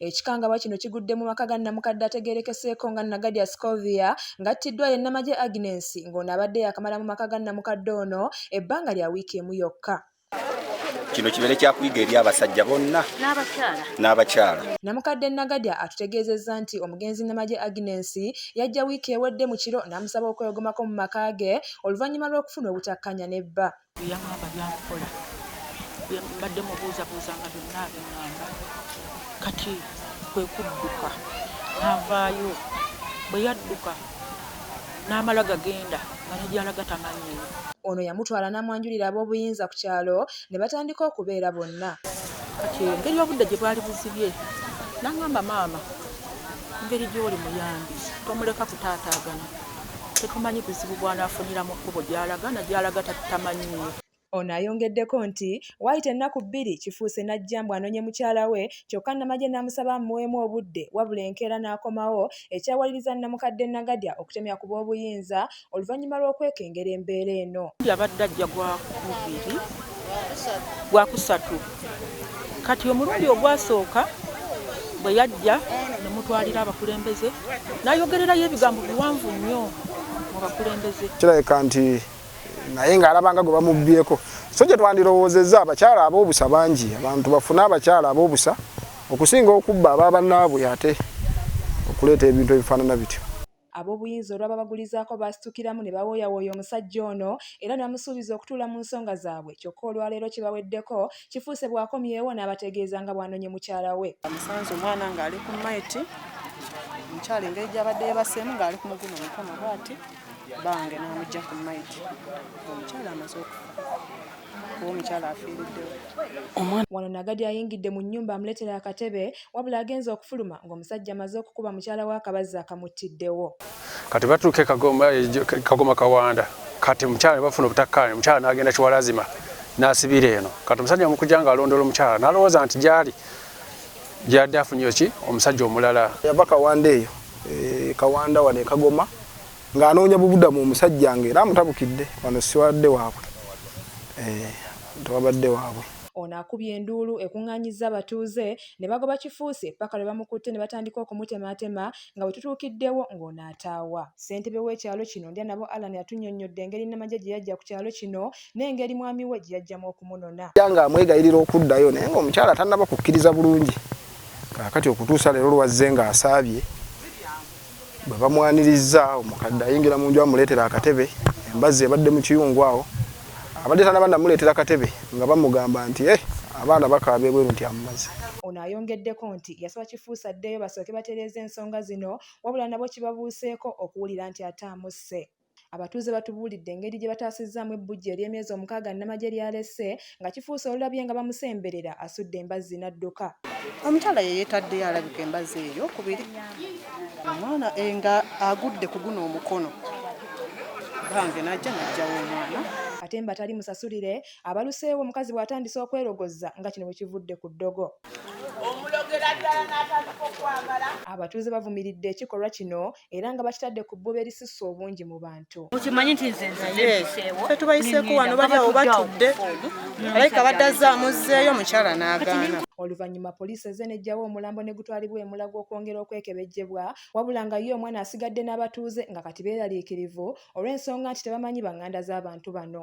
Ekikangabwa kino kigudde mu maka ga nnamukadde ategeerekeseeko nga Nagadya Scovia ng'attiddwa ye Namagye Agnes ng'ono abadde yaakamala mu maka ga nnamukadde ono ebbanga lya wiiki emu yokka. kino kibeere kyakuyiga eri abasajja bonna n'abakyala. Namukadde Nagadya atutegeezezza nti omugenzi Namagye Agnes yajja wiiki ewedde mu kiro n'amusaba okwewogomako mu maka ge oluvannyuma lw'okufuna obutakkanya ne bba. Byeyangamba byakukola mbadde mubuuzabuuza nga byonna abiŋamba kati kwe kudduka n'avaayo bwe yadduka n'amala gagenda nga ne gy'alaga tamanyiyo ono yamutwala n'amwanjulira ab'obuyinza ku kyalo ne batandika okubeera bonna kati engeri obudde gye bwali buzibye n'aŋamba maama engeri gy'oli muyambi tomuleka kutaataagana Tetumanyi buzibu bw'anaafunira mu kkubo gy'alaga na gy'alaga tamanyi. Ono ayongeddeko nti, waayita ennaku bbiri Kifuuse n'ajja mbu anoonye mukyala we kyokka Namagye n'amusaba amuweemu obudde wabula enkeera n'akomawo ekyawaliriza nnamukadde Nagadya okutemya ku boobuyinza oluvannyuma lw'okwekengera embeera eno. Abadde ajja Gwakubiri, Gwakusatu. Kati omulundi ogwasooka bwe yajja ne mutwalira abakulembeze n'ayogererayo ebigambo biwanvu nnyo mu bakulembeze. Kirabika nti naye ng'alabanga gwe bamubbyeko. So gye twandirowoozezza abakyala ab'obusa bangi, abantu bafune abakyala ab'obusa okusinga okubba aba bannaabwe ate okuleeta ebintu ebifaanana bityo. Ab'obuyinza olwababagulizaako baasitukiramu ne bawooyawooya omusajja ono era ne bamusuubiza okutuula mu nsonga zaabwe kyokka olwaleero kibaweddeko, Kifuuse bw'akomyewo n'abategeeza nga bw'anonye mukyala we. Bamusanze omwana ng'ali ku mayiti, omukyala engeri gy'abadde yeebaseemu ng'ali ku muguno omukono bwati bbange n'amuggya ku mayiti ng'omukyala amaze okufa. kuba omukyala afiiriddewo. Wano Nagadi ayingidde mu nnyumba amuleetera akatebe wabula agenze okufuluma ng'omusajja amaze okukuba mukyala wa kabazzi akamuttiddewo kati batuuka e kagoma eh, kawanda kati mukyala nebafuna obutakkaanya omukyala n'agenda kiwalazima n'asibira eno kati omusajja mukuja nga alondoola omukyala n'alowooza nti gyali gyadde afunye ki omusajja omulala yava kawanda eyo eh, kawanda wano ekagoma ng'anoonya bubudamu omusajja nga era amutabukidde wano siwadde waabwe eh, tewabadde waabwe Ono akubye enduulu ekung'anyizza abatuuze ne bagoba Kifuusi ppaka lwe bamukutte ne batandika okumutemaatema nga bwe tutuukiddewo ng'ono ataawa. Ssentebe w'ekyalo kino Ndyanabo Allan atunnyonnyodde engeri Namagye gye yajja ku kyalo kino n'engeri mwami we gye yajjamu okumunona. Ng'amwegayirira okuddayo naye ng'omukyala tannaba kukkiriza bulungi kaakati okutuusa leero lw'azze ng'asaabye. bwe bamwanirizza omukadde ayingira mu nju amuleetera akatebe embazzi ebadde mu kiyungu awo abadde tanaba namuleetera katebe nga bamugamba nti e abaana bakaaba ebweru nti amumaze ono ayongeddeko nti yasaba kifuusa addeyo basooke batereeze ensonga zino wabula nabo kibabuuseeko okuwulira nti ate amusse Abatuuze batubuulidde engeri gye bataasizzaamu ebbujje ery'emyezi omukaaga nnamagye ly'alese nga kifuuse olulabye nga bamusemberera asudde embazzi n'adduka. Omukyala ye yeetaddeyo alabika embazzi ey'okubiri omwana eh, nga agudde ku guno omukono bange n'ajja n'ajjawo omwana ate mbatali musasulire abaluseewo omukazi bw'atandise okwerogoza nga kino bwe kivudde ku ddogo. Abatuuze bavumiridde ekikolwa kino era nga bakitadde ku bbuba erisusse obungi mu bantu okimanyi nti nze nzeebiseewo fe tubayiseeko wano bali awo batudde alayika baddaza amuzzeeyo omukyala n'agaana oluvannyuma poliisi eze nejjawo omulambo ne gutwalibwa emulago okwongera okwekebejjebwa wabula nga ye omwana asigadde n'abatuuze nga kati beeraliikirivu olw'ensonga nti tebamanyi banganda z'abantu bano